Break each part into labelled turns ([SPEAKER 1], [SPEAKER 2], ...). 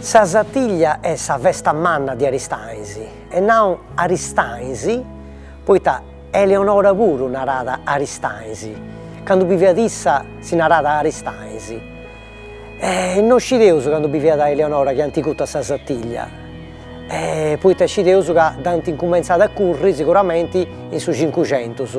[SPEAKER 1] Sa satiglia est sa festa manna de Aristanis, e nau Aristanis poita Eleonora puru narat Aristanis, candu biviat issa si narat Aristanis, no scideus candu biviat Eleonora chi ant curtu a sa satiglia, poita scideus ca dd'ant incumentzada a curri siguramenti in su cincucentus.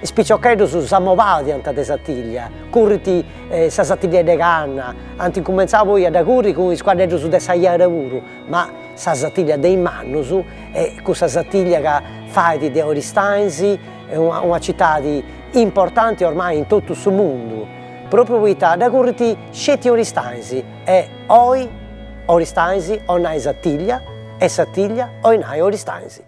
[SPEAKER 1] Is piciocheddus s'amobàdiant de satiglia, currint sa satigliedda 'e canna, ant incumentzau poi a dda curri cun is cuaddeddus de sa jara puru, ma sa satiglia de is mannus est cussa satiglia ca fait de Oristanis una citadi importanti ormai in totu su mundu, propriu poita dda currit sceti Oristanis e oi Oristanis oi nai satiglia e satiglia oi nai Oristanis.